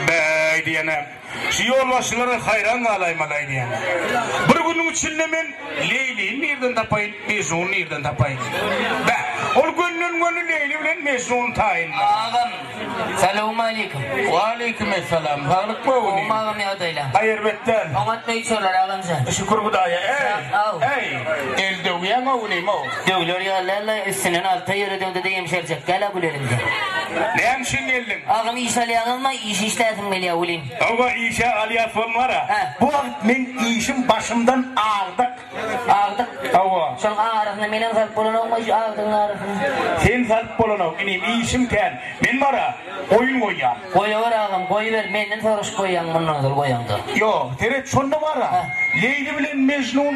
Bäý diýen-ä, şu ýolbaşçylara haýran galaýmaly-aý diýen. Bir günüň içinde men Leýlini nirden tapaýyn, Mejnuny nirden tapaýyn? Bäh, ol gönden-göni Leýli bilen Mejnuny taýynlar. Agam, salawmaleýkim. Waleýkim essalam. Saglykmy ogul? Gowymy agam ýagdaýlar? Aý, erbet däl. Oňat öýçüler agamjan. Şükür Hudaýa. Äý, äý, el döwýäň ogul, imo. Döwler ýalala üstünden alta ýere döndüde ýemşerjek ýala gül elimde. Näme üçin geldiň? Agam iş alýaňyzmy? Iş işläsim gelýä welin. Hawa işe alýas bolum gara. Bu wagt meň işim başymdan agdyk. Agdyk? Hawa. Şonuň arasyna menem salyp bolanokmy şu agdygyň arasyna? Sen salyp bolanok inim işim kän. Men bara goýun goýýan. Goýawer agam goýber menden soraşyp goýýaň mundan ozal goýaňda. Ýok seret şonda bara Leýli bilen Mejnun.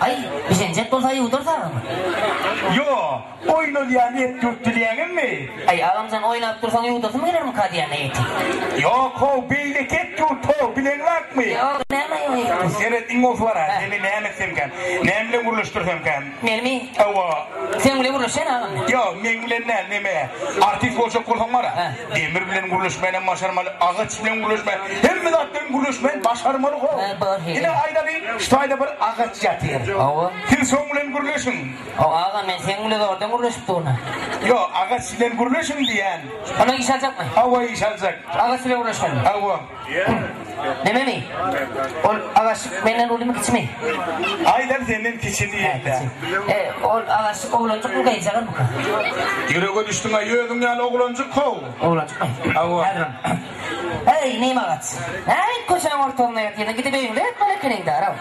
Aý, bişenjek bolsa ýuwdursaň. Ýok, oýnalýan et ýurtda diýýäňizmi? Aý, agamjan, oýnap dursaň ýuwdurasym gelermika diýýän-dä eti. Ýok, how, beýleki et ýurt, how, bileň bakmy? Ýok, näme ýok et ýurt? Seret, iň bolsa bar-a, seni näme etsemkä, näme bilen gürleşdirsemkä? Menimi? Hawa. Seň bilen gürleşýän agam men. Ýok, meň bilen däl, neme, artist boljak bolsaň bar-a. Demir bilen gürleşmänem başarmaly, agaç bilen gürleşme, hemme zat bilen gürleşmäni başarmaly ho. Ine aýdaly, şu taýda bir agaç ýatyr. Hawa. Siz şoň bilen gürleşiň. Hawa aga, men seň bilen zordan gürleşip durna. Ýok, agaç bilen gürleşiň diýýän. Onda iş aljakmy? Hawa, iş aljak. Agaç bilen gürleşmeli. Hawa. Nememi? Ol agaç menden ulymy kiçimi? Aýdan senden kiçi diýende. E, ol agaç oglanjyk bu geýjagam bu. Ýürege düşdüň aý özüň ýaly oglanjyk how. Oglanjyk aý. Hawa. Häzirim. Eý, neme agaç. Näme köçäň ortagynda ýatyň, gidip öýüňde ýatmaly ekeniň-dä, araw.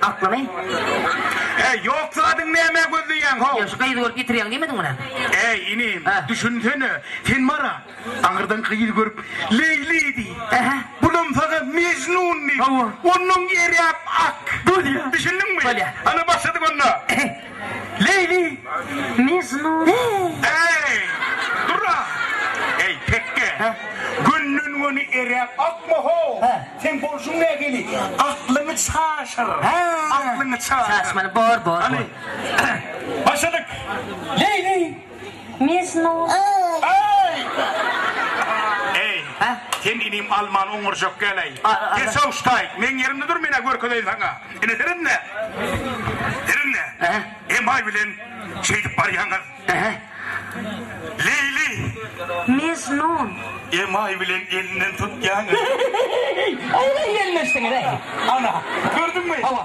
Aklymy? Heý, ýok zadyň nämä gözleýäň, how? Ýa şu gyzy görüp ýitirýäň diýmediň munä? Äý, inim, Hä? düşünsene, sen bar-a, aňyrdan gyz görüp, Leýli diý. Ähä. Bulam saňa Mejnun diý. Hawa. Onuň eräp ak. Bolýa. Düşündiňmi? Bolýa. Ana, başladyk onda. Leýli, Mejnun, eý, dur-a! Eý, tekge, gönden-göni eräp akma-how! Seň bolşuň nähili? Aklyňy çaşyr! Aklyňy çaşyr! Çaşmaly, bor, bor, bor. Başladyk! Leýli! Misnus. Eý, sen inim alman oňurjak gel-eý. Gesow ştaýk, meň ýerimde dur, men-ä görkezeýin saňa. Ine, ser indi. Ser indi. Emaý bilen şeýdip barýaňyz. Leýli. Misnun. Emaý bilen elinden tutýaňyz. Eý, aýlaý gelin öçsüňiz-eý. Ana, gördüňmi? Hawa.